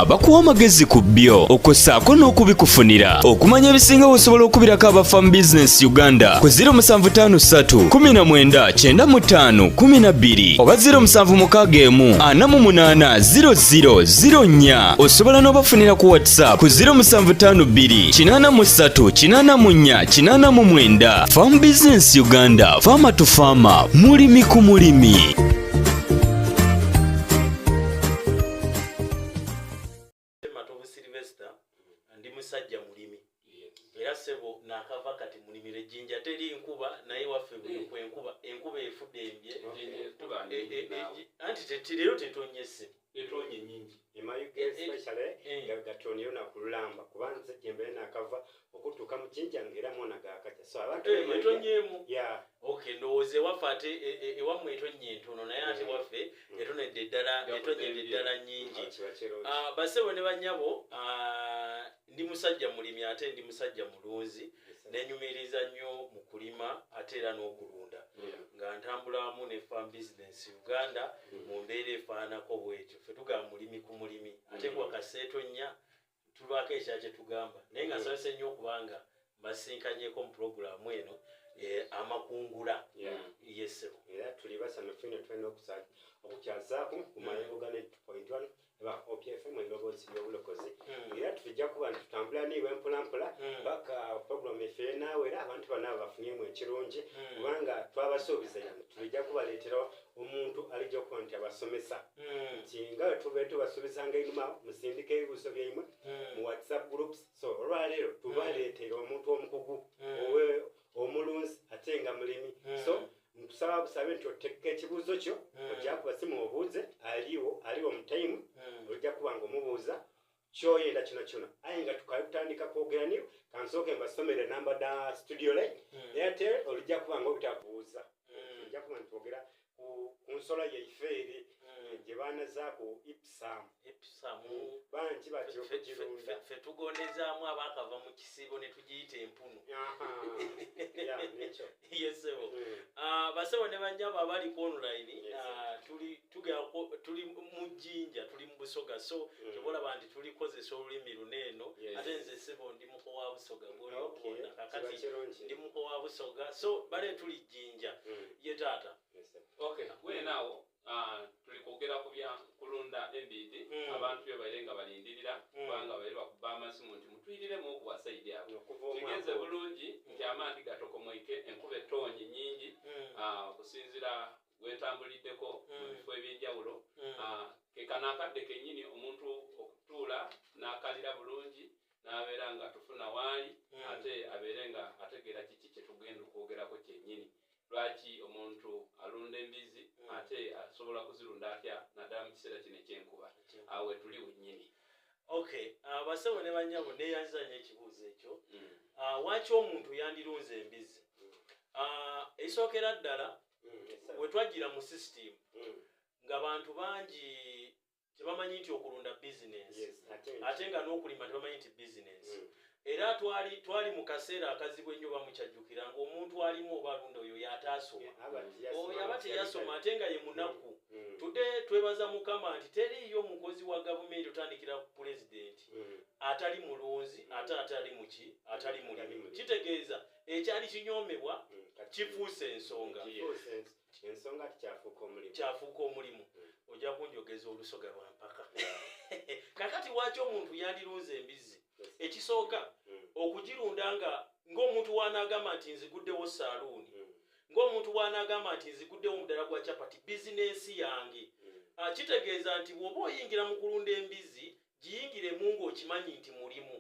abakuwa amagezi ku byo okwo ssaako n'okubikufunira okumanya ebisinga osobola okubirako aba fam business uganda ku 0753199512 oba 0761480004 osobola n'obafunira ku whatsapp ku 0752838489 fam business uganda faama tu faama mulimi ku mulimi matovu silvester ndi musajja mulimi era sebo nakava kati mulimira ejjinja teri nkuba naye waffe buliku mm. enkuba enkuba efudde embye eh, eh, eh, anti tetireyo tetonye sebo etonye nyingi emayuga especially gatonyeyo nakululamba kuba nze gyembeere nakava okutuuka mu jinja ngaera mwana gakakya so abantu eh, etonyemu ya okay ndowooza ewaffe ate e, e, ewammwe etonye entono naye ate mm. waffe mm. etonedde eddala etonyedde eddala nyingi ah, ah, basebo ne banyabo ah, ndi musajja mulimi ate ndi musajja mulunzi nenyumiriza nnyo mu kulima ate era n'okulunda nga ntambulamu ne farm business uganda mm. mu mbeera efaanako bwetyo fe tugamba mulimi ku mulimi ate kuwakaseetonnya tubaako ekya kye tugamba naye nga nsabise nnyo okubanga mbasinkanyeko mu pulogulaamu eno eh, amakungula yesebo era tuli basanyufu ino tulina okukyazaako ku mayengo gane point one eba opfm endoboozi y'obulokozi hmm. era tujja kuba nti tutambula niibwe mpolampola hmm. paka pulogulaamu efere naawe era abantu banaabo bafunyeemu ekirungi hmm. kubanga twabasuubiza yano tulijja kubaleeterawo omuntu alijja okuba nti abasomesa hmm. nti nga tuba tubasomesanga einuma musindika ebibuuzo byaimwe hmm. mu whatsapp groups so olwaleero tubaleetera hmm. omuntu omukugu owe omulunzi ate nga mulimi so nkusaba busabe nti otekka ekibuuzo kyo ojja kubasimu obuuze aliwo aliwo mutaimu ojja kuba nga omubuuza kyoyenda kino kyona aye nga tukale kutandika kwogera niyo kansooke mbasomere namba da studio line hmm. airtel olijja kuba nga obutabuuza hmm. ojja kuba nitwogera ku nsolo yaife eri hmm. eh, gye baana zaaku ipsam bangi batyo okugirunda fe tugondezaamu abaakava mu kisiibo ne tugiyita empunu nekyo yesebo mm. ah, basebo ne banyabo abali ku online ah, tuli tugera tuli mu jinja tuli mu busoga so mm. kyobola banti tuli kozesa olulimi luneeno ate nze sebo ndi muko wa busoga gwoyokuona kakati ndi muko wa busoga so bale tuli jinja mm. ye taata okay. ah, tuli kwogera ku bya kulunda embiidi hmm. abantu bye baire nga balindirira hmm. kubanga baire bakuba amasimu nti mutwiriremu okuwa saidi abo kigeze bulungi hmm. nti amaanti gatokomoike enkuba ettoonyi nyingi ah, okusinzira wetambuliddeko mu bifo ebyenjawulo ah, kekano akadde kenyini omuntu okutuula n'akalira bulungi n'abeera nga tufuna waali ate abeere nga ategeera kiki kyetugenda okwogerako kyenyini lwaki omuntu alunda embizi mm. ate asobola kuzirunda atya naddala mu kiseera kino ekyenkuba awo wetuli wennyini ok ah, basebo ne banyabo neyanziza nyo ekibuuzo ekyo mm. ah, waki omuntu yandirunza embizi mm. ah, ekisookera ddala wetwajjira mu system nga bantu bangi tebamanyi nti okulunda bizinensi yes, ate nga n'okulima tebamanyi nti bizinensi mm. era twali twali mu kaseera akazibu ennyo bamukyajjukira ngaomuntu alimu oba alunda oyo yataasoma yeah, oyo aba teyasoma ate nga ye munaku mm. mm. tude twebaza mukama nti teriiyo mukozi wa gavumenti otandikira ku pulezidenti mm. atali mulunzi mm. ate atali muki atali mulimi kitegeeza ekyali kinyoomebwa mm. kifuuse ensonga yes. ensonga ti kyafuuka omulimu kyafuuka omulimu hmm. ojja kunjogeza olusoga lwa mpaka kakati waaki omuntu yandirunza embizzi ekisooka hmm. okugirunda nga ng'omuntu wanaagamba nti nziguddewo saaluuni hmm. ng'omuntu wanaagamba nti nziguddewo omudala gwa capati bizinensi yange ah, kitegeeza nti bw'oba oyingira mu kulunda embizzi giyingiremu ng'okimanyi nti mulimu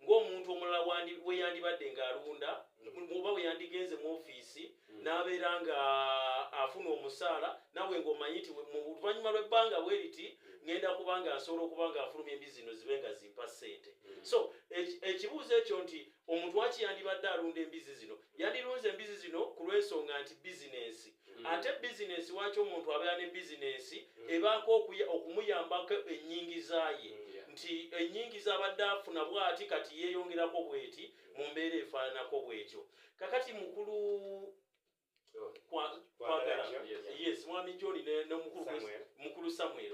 ng'omuntu omulala we yandibadde ng'alunda oba we yandigenze mu ofiisi hmm. n'abeera ng'afuna omusaala nawe ng'omanyi nti mu luvannyuma lw'ebbanga bwe riti hmm. ngenda kuba nga nsobola okuba ng'afulumya embi zino zibe nga zimpa ssente hmm. so ekibuuzo ekyo nti omuntu waki yandibadde alunda embizi zino Yandilunze embizi zino ku lw'ensonga nti bizinensi. Mm. Ate bizinensi waaki omuntu abeera ne bizinensi mm. ebaako okumuyambako ennyingiza ye mm, nti ennyingiza abadde afuna bwati kati yeeyongerako bweti mu mbeera efaananako bwetyo. Kakati mukulu kwagala yes mwami John ne mukulu Samuel.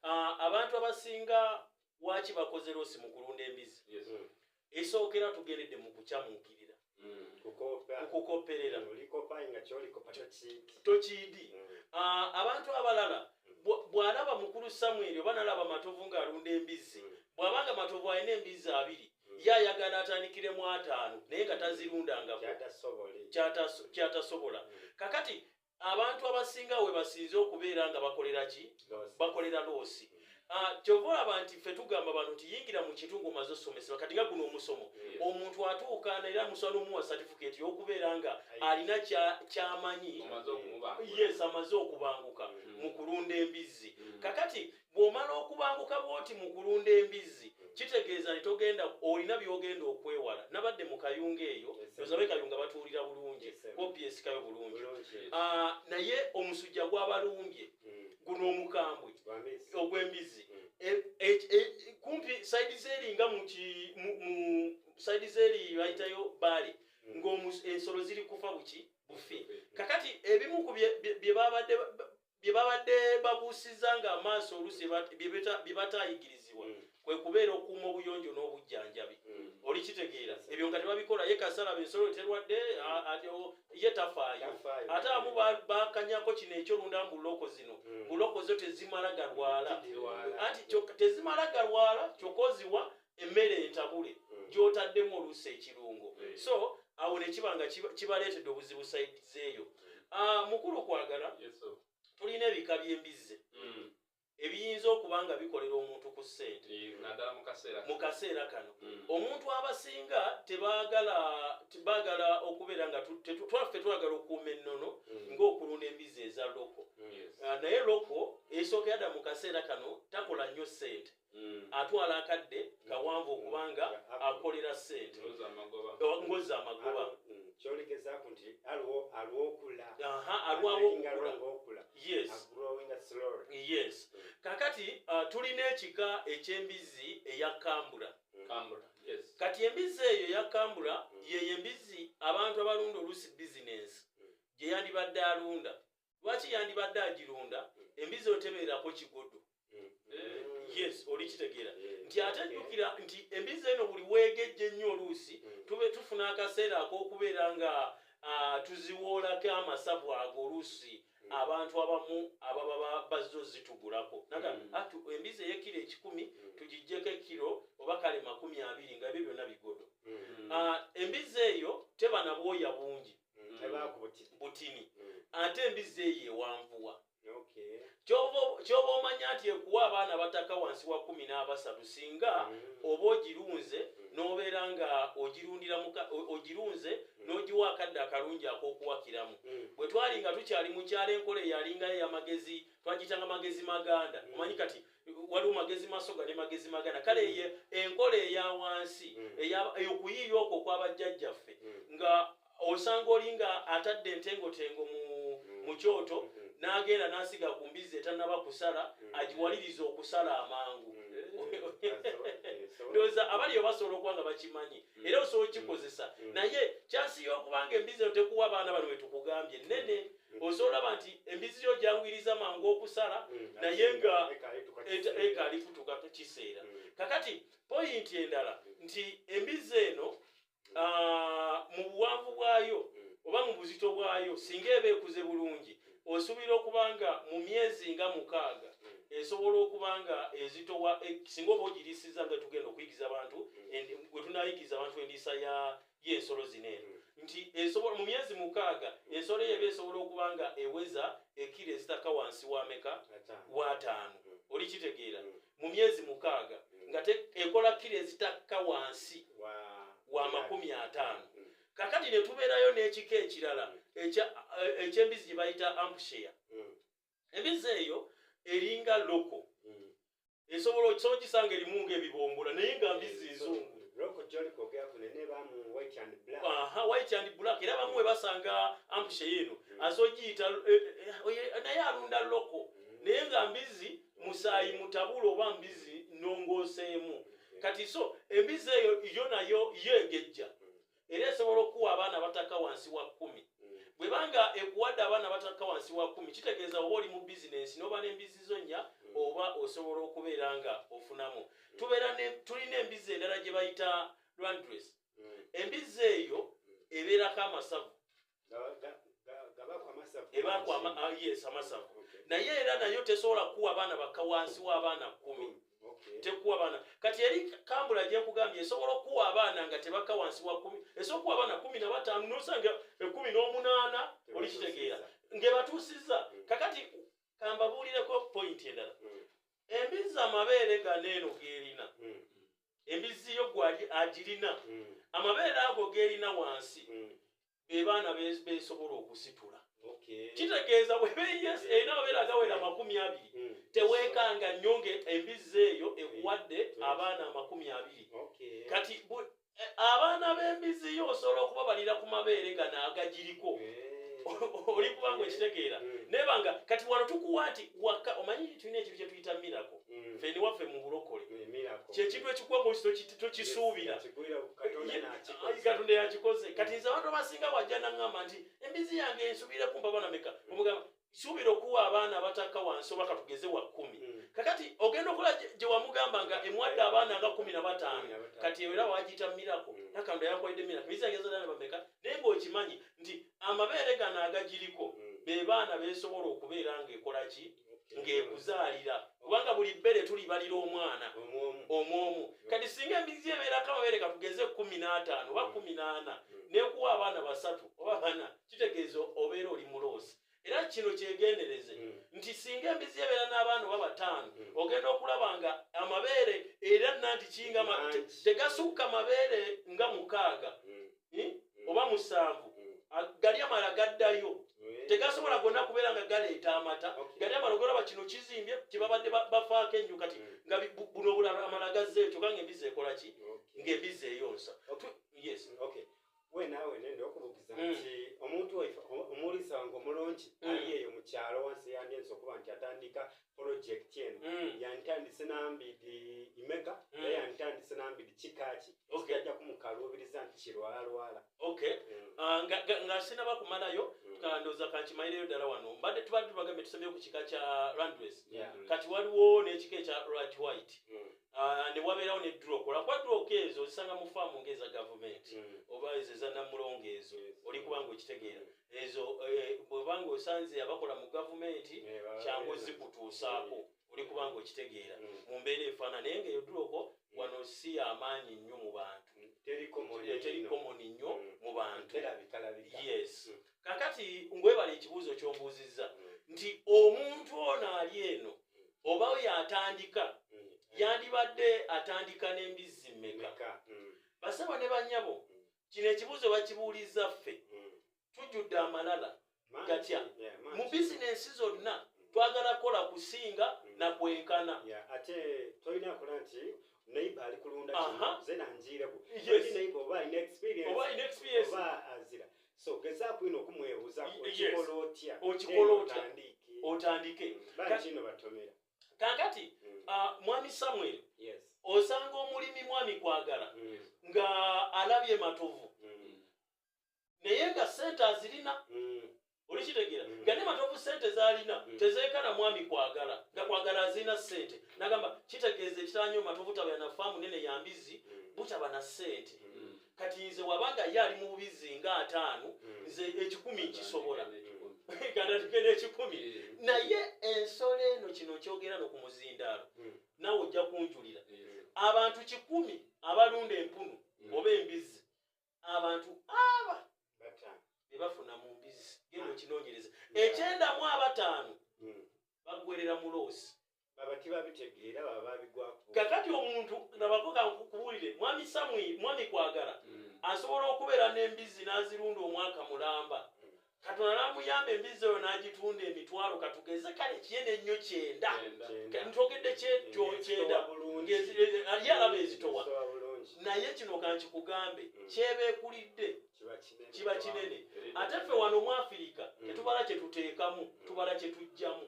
Ah, abantu abasinga waki bakoze losi mu kulunda embizi esookera tugendedde mu kukyamuukirira mm. kukoperera tokiidi mm. ah, abantu abalala bw'alaba mukulu samweri oba nalaba matovu ng'alunda embizzi mm. bw'abanga matovu alina embizzi abiri ye ayagala atandikiremu ataano naye nga tazirundangako kyatasobola kakati abantu abasinga we basinze okubeera nga bakolera ki bakolera loosi ah, kyova olaba nti ffe tugamba abantu nti yingira mu kintu ngaomaze osomesebwa kati nga guno omusomo omuntu atuuka naera musobola nomuwa satifiketi yokubeera nga alina kyamanyi yes amaze okubanguka mm-hmm. mu kulunda embizzi mm-hmm. kakati bw'omala okubanguka bwoti mu kulunda embizzi kitegeeza nti togenda olina by'ogenda okwewala nabadde mu kayunga eyo ozabe kayunga batuwulira bulungi obyesikayo bulungi ah, naye omusujja gwabalumbye hmm. guno omukambwe ogw'embizzi hmm. e, e, e, kumpi saidi zeri nga mu saidi zeri bayitayo baali hmm. ng'ensolo ziri kufa buki bufi kakati ebimu ku bye babadde bye babadde babuusizza ng'amaaso oluusi bye bataayigirizibwa mm. kwe kubeera okuuma obuyonjo n'obujjanjabi mm. oli kitegeera ebyo nga tebabikola ye kasalaba ensolo eterwadde mm. ye tafaayo ate amu bakanyako kino ekyolunda mu loko zino mu loko zo tezimala galwala anti tezimala galwala kyoka oziwa emmere entabule mm. gyotaddemu oluusi ekirungo mm. so awo nekiba nga kibaleetedde obuzibu saidi zeeyo mm. ah, mukulu kwagala tulina ebika by'embizze ebiyinza okuba nga bikolera omuntu ku ssente mu kaseera kano omuntu abasinga tebagala bagala okubeera nga twaffe twagala okuuma ennono ng'okulunda embizzi eza loko ah, naye loko esooka yada mu kaseera kano takola nnyo ssente Mm. atwala akadde mm. kawanvu mm. okubanga akolera sente ngoza amagoba kyolegezaako nti aliwo aliwo okula aha alwawo okula yes yes kakati uh, tulina ekika eky'embizzi eya kambura kambura yes kati embizzi eyo ya kambura yeyo embizzi abantu abalunda oluusi bizinensi gye yandibadde alunda lwaki yandibadde agirunda embizzi otebeerako kigodo yes olikitegeera nti ate jjukira nti embizzi eno buli weegejja ennyo oluusi tube tufuna akaseera ak'okubeera nga ah, tuziwoolako amasavu ago oluusi abantu abamu ababa bazze ozitugulako naga mm. atu ah, embizi eyekiro ekikumi mm. tugijjeko ekiro oba kale makumi abiri nga ebyo byonna bigodo mm. ah, embizi eyo teba nabwoya bungi mm. butini mm. ate embizzi eyo ewanvuwa kyoba omanya nti ekuwa abaana bataka wansi wa kumi n'abasatu singa mm. oba ogirunze nobeera nga ogirunze nogiwa akadde akalungi akokuwakiramu bwe twali nga tukyali mukyalo enkola eyalingayo yamagezi twagitanga magezi maganda omanyi kati mm. waliwo magezi masoga ne magezi magana kale mm. ye enkola eya wansi mm. eyokuyiiya okwo okwabajjajjaffe mm. nga osanga oli nga atadde entengotengo mu mu kyoto mm-hmm. n'agenda n'asiga ku mbizzi etanaba kusala mm-hmm. agiwaliriza okusala amangu mm-hmm. ndowooza abaliyo basobola okuba nga bakimanyi era osobola okikozesa naye kyasi y'okuba nga embizzi eno tekuwa abaana bano wetukugambye nene oze olaba nti embizzi yo gyangwiriza mangu okusala mm, naye nga ekaali kutuuka kiseera mm. kakati poyinti endala nti embizzi eno mm. ah, mu buwanvu bwayo oba mu buzito bwayo singa eba ekuze bulungi osuubira okuba nga mu myezi nga mukaaga esobola okuba nga ezitowa e, singa oba ogirisiza nga tugenda okuyigiza abantu wetunayigiza abantu endiisa ya y'ensolo zino eno hmm. nti esobola mu myezi mukaaga ensolo eyo eba esobola okuba nga eweza ekiro ezitaka wansi wameka wataano hmm. oli kitegeera hmm. mu myezi mukaaga nga ekola kiro ezitakka wansi wa makumi ataano kakati ne tubeerayo n'ekika ekirala eky'embizi gye bayita ampusheya emize eyo eringa loko hmm. esobola okisobola kisanga erimu nga ebibombola naye nga mbizi ezungu white and black era bamu webasanga ampushe yino hmm. azogiyita eh, eh, eh, naye alunda loko hmm. naye nga mbizi musaayi mutabula oba mbizi nongoseemu kati so embizi eyo yo nayo yo egejja era esobola okuwa abaana abataka wansi wa kumi mm. bwebanga ekuwadde abaana abataka wansi wa kumi kitegeeza oba oli mu bizinensi noba n'embizzi zo nnya mm. oba osobola okubeera nga ofunamu mm. tubeera tulina embizzi endala gye bayita landres embizzi eyo ebeerako amasavu ebakwama ah, yes amasavu naye era nayo tesobola kuwa abaana bakka wansi wa abaana kumi mm, tekuwa abaana kati eri kambula gyekugambye esobola okuwa abaana nga tebakka wansi wa kumi esobola okuwa abaana kumi na bataano nosanga ekumi n'omunaana olikitegeera ngebatuusiza mm. kakati kambabuulireko pointi endala mm. embizzi amabeere gano eno gerina emizzi yo gwali agirina mm. amabeere ago gerina wansi mm. bebaana besobola okusitula kitegeeza webeyes erina amabeere agawera amakumi abiri mm. tewekanga nnyo nga embizzi eyo ekuwadde abaana amakumi abiri kati e, abaana b'embizzi yo osobola okubabalira ku mabeere gano agagiriko oli kubanga okitegeera nebanga kati wano tukuwa nti waka omanyi tulina ekintu kyetuyita mirako mm. feni waffe mu bulokole kyekintu ekikuwa mukiti tokisuubira katonda yakikoze mm. kati nze abantu abasinga wajja naŋamba nti embizi yange nsubire kumba bana meka mm. omugamba suubira okuwa abaana abatakka wansi oba katugeze wa kumi kakati ogenda okola gye wamugamba nga emwadde abaana nga kumi na bataano kati era wagiyita mirako nakando yakwalidde mirako embizi yange ezadana bameka naye ngaokimanyi nti amabeere gano agagiriko bebaana besobola okubeera ngaekolaki ng'ekuzaalira kubanga buli bbere tulibalira omwana omwomu kati singa embizi ebeerako amabere katugeze kumi n'ataano oba mm. kumi n'ana mm. nekuwa abaana basatu oba bana kitegeeza obeera oli muloosi era kino kyegendereze mm. nti singa embizi ebeera n'abaana oba bataano ogenda okulaba nga amabeere era nanti kinga tegasukka mabeere nga mukaaga eh? Eh. oba musanvu eh. ah, gali amala gaddayo tegasobola gonna kubeera nga galeeta amata gali amala ogolaba kino kizimbye kyebabadde bafaako ennyo kati mm. nga buno amala gazze ekyo kanga embizi ekola ki ngaembizi eyonsa wenawe nende okubugiza mm. nti omuntu omuwulisa wange omulungi mm. ali eyo mukyalo wansi yandyensi okuba nti atandika project eno mm. yantandise nambidi imeka mm. naye yantandise nambidi kikaki okay. ajja kumukaluubiriza nti kirwalalwala okay. mm. uh, nga, nga, nga sinaba kumalayo mm. kandoza kankimayireyo ddala wano mbadde tubadde tubagambye tusembye ku kika kya randres yeah. kati waliwo n'ekika ekya rat white mm. uh, ne wabeerawo ne drok olwakuba drok ezo ozisanga mu faamu ngaeza gavumenti mm. oba ezo ezanamulongo ezo yes. oli kubanga okitegeera mm. ezo eh, bweba nga osanze abakola mu gavumenti kyangu ozikutuusaako oli kubanga okitegeera mm. mu mbeera efaana naye nga eyoduloko mm. wano si amaanyi nnyo mu bantu mm. teri komoni nnyo mu bantu yes kakati ngwebala ekibuuzo kyombuuzizza nti omuntu ono ali eno oba oyo atandika yandibadde atandika n'embizzi mmeka basaba ne banyabo kino ekibuuzo bakibuulizza ffe mm. tujjudde amalala gatya mu bizinensi zonna twagala kukola kusinga mm. na kwenkana ate tolina kola nti neighbor ali kulunda kino nze nanjiireko neighbor oba alina experience oba azira so gezaako ino okumwebuuza okikola otya okikola otya otandike mm. kino batomera kakati mm. ah, mwami samuel osanga omulimi mwami kwagala mm. nga alabye matovu mm. naye nga sente azirina olikitegera nga ne matovu sente zalina tezekana mwami kwagala nga kwagala azirina sente nagamba kitegeeza ekitanyo matovu tabana faamu nene yambizi butaba na sente kati nze wabanga ye ali mu bubizzi nga ataano hmm. nze ekikumi nkisobola gandatike n'ekikumi hmm. naye ensolo eno kino kyogera no ku muzindaalo hmm. nawe ojja kunjulira abantu kikumi abalunda empunu oba embizzi abantu aba bebafuna mu mbizzi genda okinoonyereza ekyenda mu abataano bagwerera mu loosi kakati omuntu nabakoga nkukuwulire mwami samwi mwami kwagala mm. asobola okubeera n'embizzi n'azirunda omwaka mulamba mm. katonda namuyamba embizzi oyo n'agitunda emitwalo katugeze kale kiyene ennyo kyenda ntogedde kyenda ali alaba ezitowa naye kino kankikugambe mm. kyeba ekulidde kiba kinene ate ffe wano mu afirika tetubala kyetuteekamu tubala kyetujjamu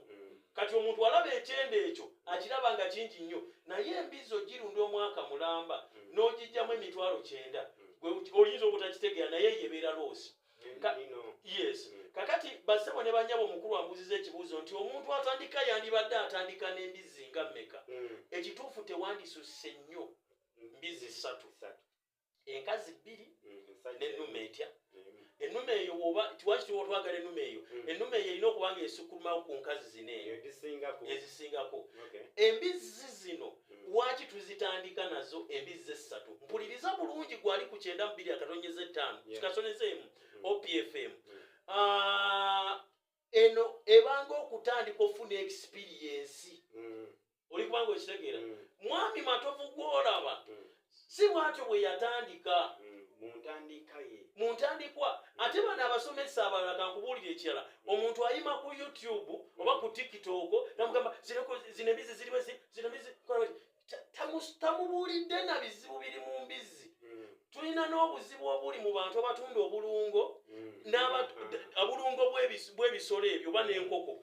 kati omuntu alaba ekyenda ekyo akiraba nga kingi nnyo naye embizzi ogirunda omwaka mulamba hmm. n'ogijjamu emitwalo kyenda hmm. oyinza obutakitegeera naye yebeera loosi yes hmm. kakati basebo ne banyabo omukulu ambuziza ekibuuzo nti omuntu atandika yandibadde atandika n'embizzi nga mmeka ekituufu tewandisusse nnyo mbizzi ssatu enkazi bbiri mm, nenuma etya mm. enuma eyo oba tiwaki tiwotwagala enuma eyo mm. enuma eyo erina okuba nga esukumawo ku nkazi zino eyo ezisingako embizzi zino waki tuzitandika nazo embizzi essatu mpuliriza bulungi gwali ku kyenda mubiri akatonyeza ettaano kikasoneza emu opfm ah, eno ebanga okutandika okufuna experiensi mm. oli kubanga okitegeera mm. mwami matovu gwolaba mm. si bwatyo bwe yatandika mu ntandikwa ate bano abasomesa abalala kankubuulira ekirala omuntu ayima ku youtube oba ku tiktok namugamba zinobizi ziriwe zinobizi tamubuulidde na bizibu biri mu mbizzi mm. tulina n'obuzibu obuli mu bantu abatunda obulungo mm. obulungo bw'ebisolo ebyo oba n'enkoko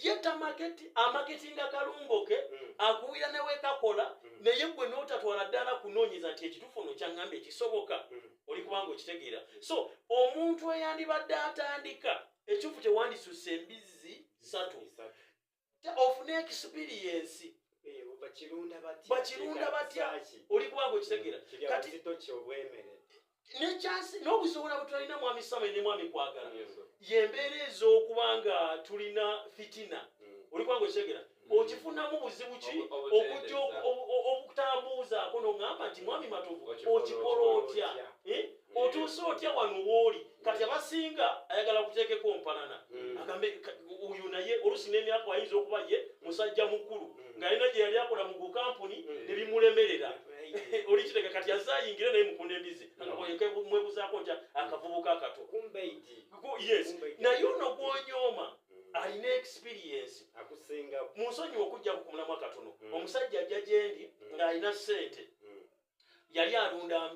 ye tamaketi amaketi nga kalungo ke mm. akuwira newekakola naye gwe n'otatwala ddala kunoonyeza nti ekituufu no kyaŋŋamba ekisoboka oli kubanga okitegeera so omuntu eyandibadde atandika ekituufu kyewandisusse embizzi satu ofune ekisipiriyensi eh, bakirunda batya oli kubanga okitegera nekyansi n'obusobola bwetulina mwami sama ne mwami kwagala yembeera ez'okuba nga tulina fitina mm. oli kubanga okitegera mm. okifunamu buzibu ki okujja okutambuuzaako nogamba nti mwami matovu okikola otya eh? mm. otuuse otya wano wooli kati abasinga ayagala kuteekeko mpalana hmm. agambe oyo naye olusi n'emyaka ayinza okuba ye musajja mukulu hmm. nga yena gye yali akola mu gukampuni hmm. ne bimulemerera oli kiteka kati azze ayingire naye mukunda embizi mwebuzaako ntya akavubuka akato yes naye ono gwonyooma alina experiensi mu nsonyiwa okujjaku ku mulamwa katono omusajja ajja gyendi ng'alina ssente yali alunda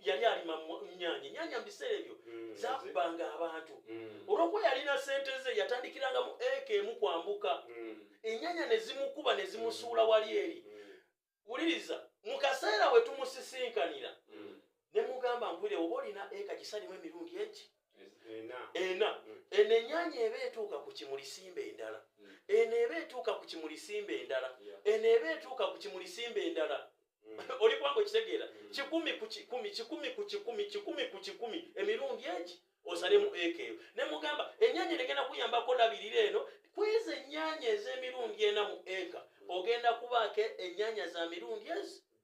yali alima nyanya nyanya mu biseera ebyo mm, zakubanga abantu mm. olwokuba yalina sente ze yatandikiranga mu eka emu kwambuka mm. enyanya nezimukuba nezimusuula wali eri wuliriza mu kaseera we tumusisinkanira ne mugamba nkwire oba olina eka gisalimu emirundi egi ena mm. eno enyanya eba etuuka ku kimulisimba endala mm. eno eba etuuka ku kimulisimba endala eno eba etuuka ku kimulisimba endala mm. oli kubanga okitegeera kikumi ku kikumi kikumi ku kikumi kikumi ku kikumi emirundi egi osalemu eka eyo ne mugamba enyanya negenda kuyambako labirira eno kwezo enyanya ez'emirundi ena mu eka ogenda kubaako enyanya za mirundi ezi